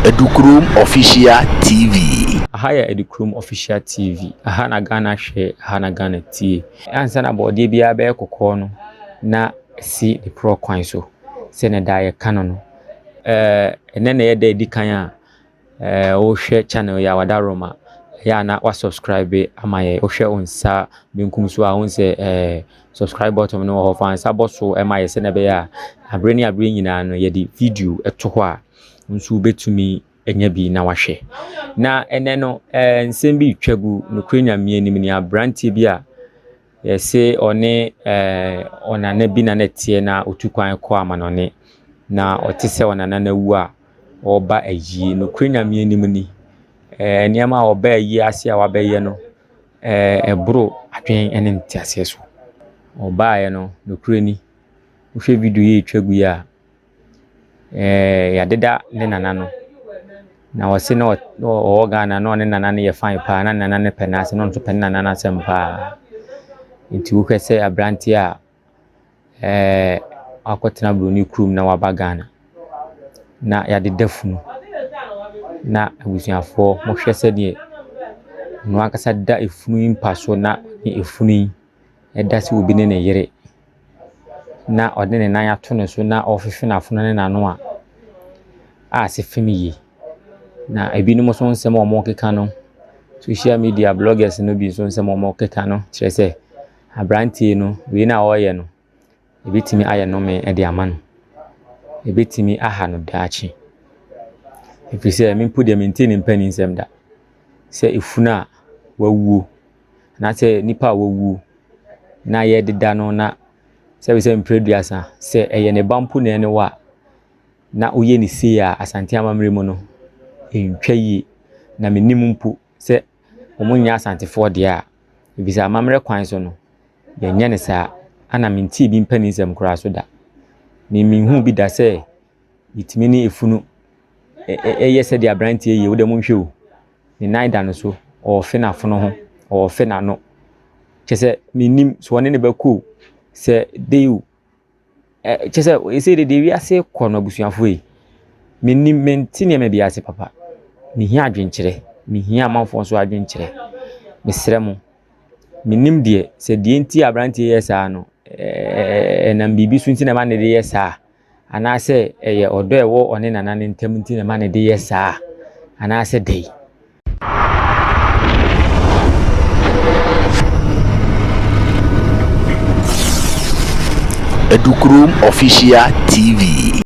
Adukrom Official TV. Aha yɛ Adukrom Official TV. Aha na Ghana hwɛ, aha na Ghana tie. Ansa na bɔɔdeɛ biara bɛyɛ kɔkɔɔ no, na ɛsi ne porɔ kwan so. Sɛnea daa yɛka no no, ɛɛ, ɛnnɛ na ɛyɛ da a ɛdi kan a Eh, wo hwɛ channel yi a wada rom a, ɛyɛ a na wa subscribe ama yɛ. Wo hwɛ wo nsa benkum so a, wo nsɛ eh, subscribe button no wɔ hɔ. Fa nsa bɔ so ɛma yɛ sɛ na ɛbɛyɛ a, abere ne abere nyinaa no yɛ de video ɛto hɔ a, nso wobɛtumi ɛnya bi na wahwɛ. Na ɛnɛ no eh, nsɛm bi twa gu, nukuri nyamea nim ni, abranteɛ bi a, Yɛse ɔne ɔnana bi na na ɛteɛ na ɔtu kwan kɔ amanɔne, na ɔte sɛ ɔnana no awu a, ɔreba ayie. Nokorɛ Nyame anim ni, nneɛma a ɔba ayie ase a wabɛyɛ no, ɛboro adwen ne nteaseɛ so. Ɔbaeɛ no, nokorɛ ni, wohwɛ video yi a ɛtwa gu yi a, ɛɛɛ yɛadeda ne nana no. Na ɔse na ɔwɔ Ghana na ɔne ne nana no yɛ fine paa, na ne nana no pɛ no asɛm, na ɔno nso pɛ ne nana no asɛm paa. Nti wohwɛ sɛ aberanteɛ a ɛɛɛ wakɔtena buroni kurom na waba Ghana, na yɛadeda funu, na abusuafoɔ, monhwɛ sɛdeɛ ɔno ankasa da funu yi mpa so na ne funu yi. da sɛ obi ne ne yere na ɔde ne nan ato ne so na ɔrehwehwɛ n'afono ne n'ano a, a ɛsɛ fam yie. Na ebinom nso nsɛm a wɔkeka no, social media bloggers no bi nso nsɛm a wɔkeka no kyerɛ sɛ aberanteɛ no wei na ɔreyɛ no. Ɛbɛtumi ayɛ nnome de ama no. Ɛbɛtumi aha no daakye. Ɛfiri sɛ, me mpo deɛ mentee ne mpanin nsɛm da sɛ efunu a wawuo anaasɛ nipa a wawuo na yɛdeda no na sɛ wohwɛ mprɛ aduasa sɛ ɛyɛ ne ba mpo na ɛne wo a, na woyɛ no sei a Asante amammerɛ mu no, ɛntwa yie. Na menim mpo sɛ ɔmo nyɛ Asantefoɔ deɛ a, efisɛ amammerɛ kwan so no, yɛn nyɛ no saa. Ɛna me ntee bi mpanin nsɛm koraa so da. Me me nhuu bi da sɛ yɛtumi ne efunu ɛyɛ sɛdeɛ abranteɛ yɛ. Wode mo nhwɛ o, ne nan da ne so, ɔɔfe n'afono ho, ɔɔfe n'ano. Kyɛ sɛ, me nnim sɛ ɔne no bɛkɔ o, sɛ dɛn o. Ɛ kyerɛ sɛ seesei deɛ deɛ wiase rekɔ no abusuafoɔ yi, mennim mente nneɛma bi ase papa. Mehia adwenkyerɛ, mehia amanfoɔ nso adwenkyerɛ. Mesrɛ mo, mennim deɛ sɛ deɛ nti a aberanteɛ yi reyɛ saa no, ɛɛɛ ɛnam biribi so nti na ɛma no reyɛ saa anaasɛ ɛyɛ ɔdɔ a ɛwɔ ɔne nana no ntam nti na ɛma no de yɛ saa anaasɛ dɛn. Edukurom Official TV.